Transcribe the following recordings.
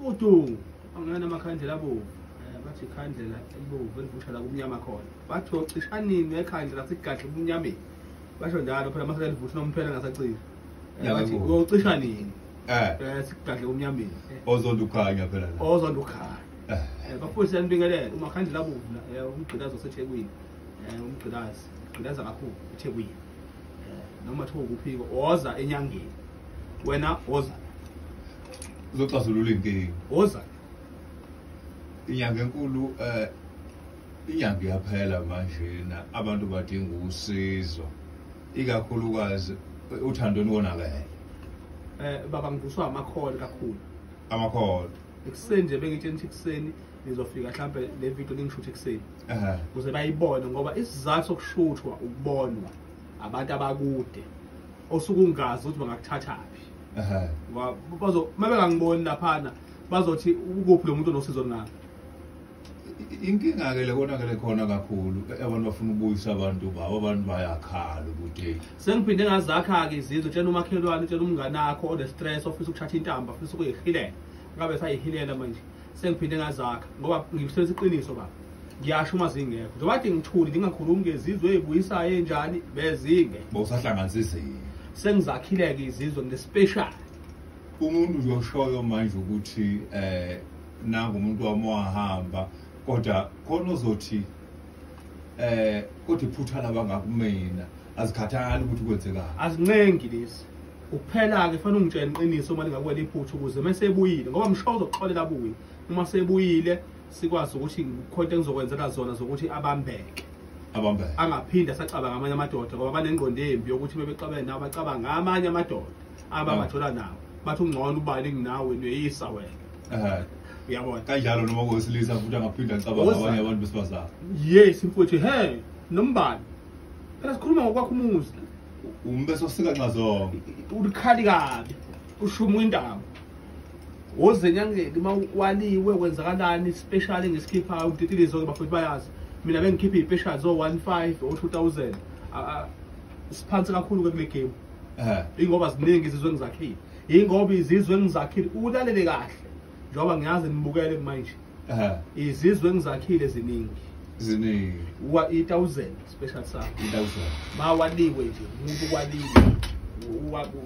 ubuhlungu angena amakhandlela abovu eh, bathi ikhandlela elibovu elivutha la kumnyama khona bathi ocishanini ekhandlela sigahle kumnyameni basho njalo phela mase livuthi nomphela ngasacisha eh, bathi uyocisha nini eh. eh sigahle kumnyameni ozonda ukhanya phela la ozonda ukhanya bafundisi yanibingelela umakhandlela abovu la umgqilazi osethekwini umgqilazi umgqilazi kakhulu ethekwini noma thiwa ukuphika woza enyangeni wena woza uzoxazulula inkinga woza inyanga enkulu eh inyanga iyaphela manje na abantu badinga usizo ikakhulukazi eh, uthando nikonakele eh baba ngivuswa amakholo kakhulu amakholo ekuseni nje bengithi ekuseni nizofika mhlampe le video ningishuthe ekuseni kuze bayibone ngoba isizathu sokushuthwa ukubonwa abantu abakude osuke ungazi ukuthi bangakuthathaphi bazo uma bengangiboni laphana bazothi ukuphi lo muntu onosizo ngalo inkinga-ke le konakele khona kakhulu abantu bafuna ukubuyisa abantu babo abantu bayakhala ukuthi sengiphinde ngazakha-ke izizwe tshela umakhelwane tshela umngane akho one-stress ofisa ukuthatha intamba ofisa ukuyihilela ngabe sayihilela manje sengiphinde ngazakha ngoba ngikusebenzisa iqiniso baba ngiyasho uma zingekho njengoba kade ngithule ndingakhulumi ngezizwe ezibuyisayo enjani bezinge bowusahlanganisise sengizakhile-ke izizwe nge-special umuntu nje oshoyo manje ukuthi eh nangu umuntu wami wahamba kodwa khona uzothi eh kodwa iphutha labangakumina azikhathakali ukuthi kwenzekani azincengi lezi Ukuphela-ke fanele ungitshele iqiniso uma lingakuwela iphutha ukuze uma sebuyile ngoba msho uzokuxolela abuye. Uma sebuyile sikwazi ukuthi khonto engizokwenzela zona zokuthi abambeke. Abambeke. Angaphinde asacabanga amanye amadoda ngoba banengqondo embi yokuthi bebexabene nabo bacabanga amanye amadoda ababathola nawo. Bathi ungcono ubani nginawe neyisa wena. Eh. Uyabona. Kanjalo noma kosilisa futhi angaphinde acabanga abanye abantu besifazana. Yes mfowethu he nombani phela sikhuluma ngokwakho umuzi umbese osika nxazo ulikhali kabi ushuma indawo wozenyangeni uma ukwaliwe kwenzakalani special ngisikhiphayo udidilizo ke bafethu bayazi mina bengikhipha iy'peshali zo-15 o-2000 siphansi kakhulu ke kule game ingoba ziningi izizwe engizakhile ingoba izizwe engizakhile ulalele kahle njengoba ngiyazi nibukele kumanje izizwe engizakhile ziningi ziningi wa i1000 special sa i1000 ma waliwe nje umuntu kwaliwe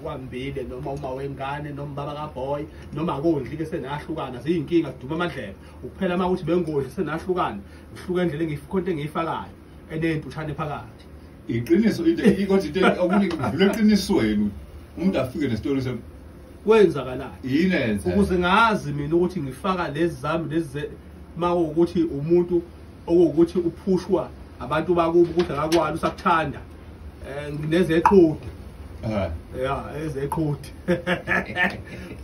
wambile noma uma wengane noma baba ka boy noma akondli ke senahlukana ziyinkinga siduma amadlela ukuphela uma ukuthi bengodli senahlukana ngihluka endleleni ngikhonto engiyifakayo eney'mpushane phakathi iqiniso kodwa into okuningi kudlula eqinisweni umuntu afike nesitolo se kwenzakalani yini enze ukuze ngazi mina ukuthi ngifaka lezi zami lezi makuwukuthi umuntu okuwukuthi uphushwa abantu bakubo ukuthi akakwani usakuthanda eh, um nginezeqhudu eh. ya ezeqhudu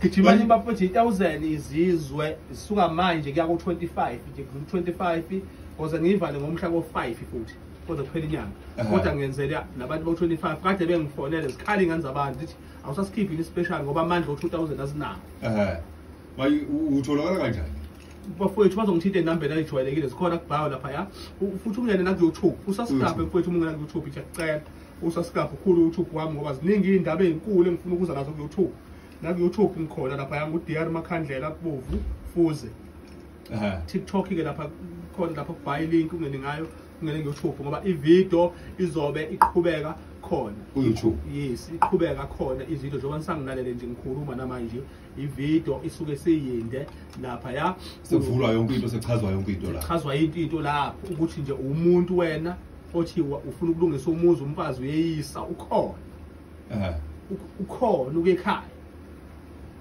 gijima nje bafo nje i-thousand izizwe zisuka manje kuya ku-twenty five nje ku-twenty five koze ngiyivale ngomhla ko-5 futhi koze kuphela inyanga kodwa ngenzele nabantu bo-25 kade bengifonele zikhali ngane zabantu zithi awusasikhiphi ini special ngoba amandla o-2000 azinako utholakala kanjani bafowethu bazongithinta enambeni ayijwayelekile zikhona kubhayo laphaya futhi ungene nakuyoutube usasikaphe mfowethu uma ungena kuyoutube ngiyakucela usasikaphe ukhulu uyoutube wami ngoba ziningi iy'ndaba ey'nkulu engifuna ukuza nazo kuyoutube nakuyoutube ngikhona laphaya ngudr makhandlela kubovu fuze tiktok ke lapha khona lapho buy link ungene ngayo ungene ngeyoutube ngoba ividiyo izobe iqhubeka khona kuyoutube yes iqhubeka khona ividiyo njengoba nisangilalele nje ngikhuluma namanje ividiyo isuke seyinde lapha ya sekuvulwa yonke into sechazwa yonke into lapha chazwa into into lapho ukuthi nje umuntu wena othi ufuna ukulungisa umuzi umfazi uyeyisa ukhona ukhona ukekhaya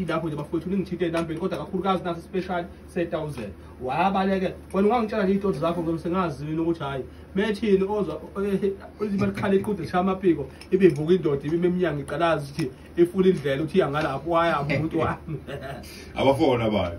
ilapho nje bafowethu ningithinte enambeni kodwa kakhulukazi naso special se-thousand wayabaleke wena ungangitshela nje iy'toti zakho ngoba sengazini ukuthi hhayi methini ozwa izima likhala iqhude lishaya amapiko ibivuka indoda ibime emnyango iqalazi ukuthi ifuna indlela ukuthi iyangalapho wayama umuntu wami abafona bayo